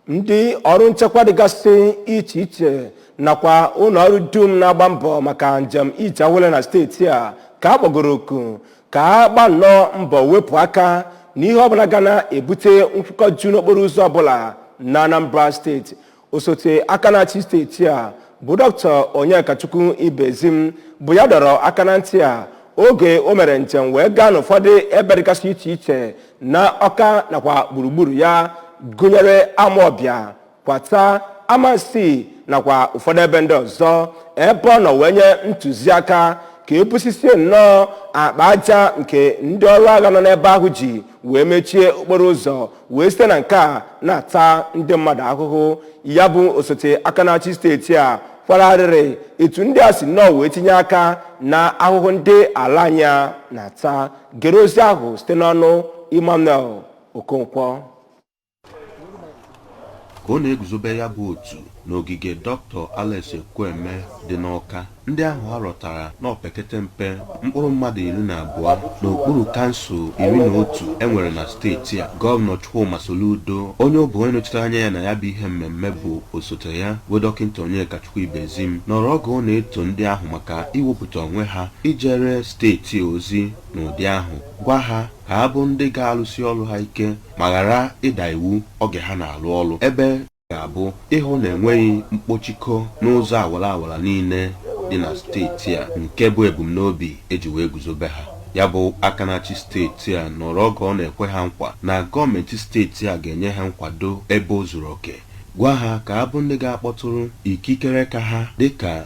ndị ọrụ nchekwa dịgasị iche iche nakwa ụlọ ọrụ dum na-agba mbọ maka njem ije awele na steeti a ka a kpọgoro oku ka a gba nnọọ mbọ wepụ aka n'ihe ọbụla ga na-ebute nkwụkọju n'okporo ụzọ ọbụla na anambra steeti osote aka na-achị steeti a bụ dọkịta onyekachukwu ibezim bụ ya dọrọ aka na ntị a oge o mere njem wee gaa n'ụfọdụ ebe dịgasị iche iche na ọka nakwa gburugburu ya gụnyere amọbịa kwata amansi nakwa ụfọdụ ebe ndị ọzọ ebe ọ nọ wee nye ntụziaka ka e busisie nnọọ akpa aja nke ndị ọrụ agha nọ n'ebe ahụ ji wee mechie okporo ụzọ wee site na nke a na-ata ndị mmadụ ahụhụ ya bụ osote aka na-achị steeti a kwara arịrị etu ndị a si nnọọ wee tinye aka na ahụhụ ndị ala anyị a na-ata gere ozi ahụ site n'ọnụ Emmanuel Okonkwo ka ọ na-eguzobe ya bụ otu n'ogige Dr. Alex Ekwueme dị n'Ọka ndị ahụ a rọtara n'opekete mpe mkpụrụ mmadụ iri na abụọ n'okpuru kansụl iri na otu e nwere na steeti a gọvanọ Chukwuma Soludo onye ọ bụ onye nọchitere anya ya na ya bụ ihe mmemme bụ osote ya bụ dọkịta Onyekachukwu Ibezim nọrọ oge ọ na-eto ndị ahụ maka iwepụta onwe ha ijere steeti a ozi n'ụdị ahụ, gwa ha ka ha bụ ndị ga-alụsi ọlụ ha ike ma ghara ịda iwu oge ha na-alụ ọlụ, ebe ọ ga-abụ ịhụ na enweghị mkpọchikọ n'ụzọ awara awara niile dị na steeti a nke bụ ebumnobi e ji wee guzobe ha. Ya bụ aka na-achị steeti a nọrọ oge ọ na-ekwe ha nkwa na gọọmenti steeti a ga-enye ha nkwado ebe o zuru oke, gwa ha ka ha bụ ndị ga-akpọtụrụ ikikere ka ha dịka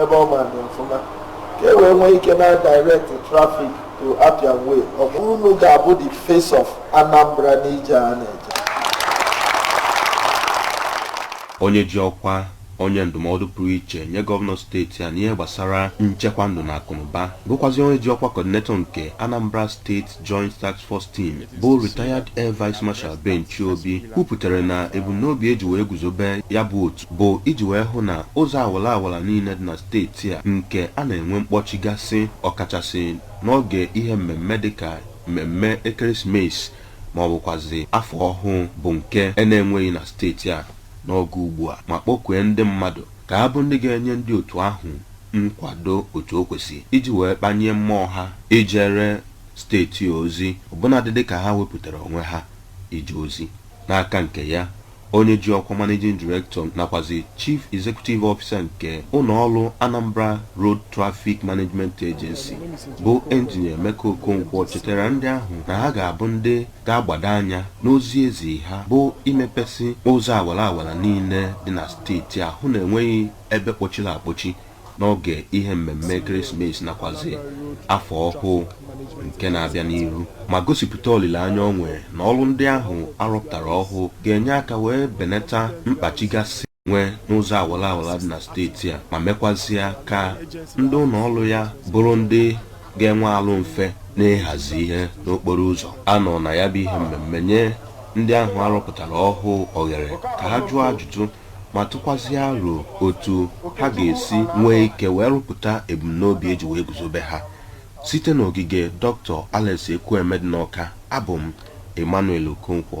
ebe ọ ma dị ọfụma ka e wee nwee ike na direct traffic to Appian Way ọ bụ unu ga-abụ the face of Anambra n'ije a na-eje onye ji ọkwa onye ndụmọdụ pụrụ iche nye gọvanọ steeti a n'ihe gbasara nchekwa ndụ na akụnụba bụkwazi onye ji ọkwa kọdinetọ nke Anambra State Joint Task Force Team bụ retired Air Vice Marshal Ben Chiobi kwupụtara na ebumnobi e ji wee guzobe ya bụ otu bụ iji wee hụ na ụzọ awara awara niile dị na steeti a nke a na-enwe mkpọchigasị ọkachasị n'oge ihe mmemme dịka mmemme ekeresimesi ma ọ bụkwazi afọ ọhụụ bụ nke e na-enweghị na steeti a n'oge ugbu a ma kpọkue ndị mmadụ ka ha bụ ndị ga-enye ndị otu ahụ nkwado otu o kwesị iji wee kpanye mmụọ ha ijere steeti a ozi ọbụnadị dịka ha wepụtara onwe ha ije ozi n'aka nke ya onye ji ọkwa Managing Director nakwazị Chief Executive Officer nke ụlọọrụ Anambra Road Traffic Management Agency bụ Engineer Emeka Okonkwo chetara ndị ahụ na ha ga-abụ ndị ga-agbado anya n'ozi e zi ha bụ imepesị ụzọ awara awara niile dị na steeti a hụ na enweghị ebe kpọchiri akpọchi n'oge ihe mmemme ekeresimesi nakwazi afọ ọhụụ nke na-abịa n'ihu ma gosipụta olileanya o nwere na ọrụ ndị ahụ a rọpụtara ọhụụ ga-enye aka wee benata mkpachigasị nwee n'ụzọ awara awara dị na steeti a ma mekwazịa ka ndị ụlọ ọrụ ya bụrụ ndị ga-enwe arụ mfe n'ịhazi ihe n'okporo ụzọ a nọ na ya bụ ihe mmemme nye ndị ahụ a rọpụtara ọhụụ oghere ka ha jụọ ajụjụ ma tụkwazịa aro otu ha ga-esi nwee ike wee rụpụta ebumnobi e ji wee guzobe ha. Site n'ogige Doctor Alex Ekwueme dị n'Awka, abụ m Emmanuel Okonkwo.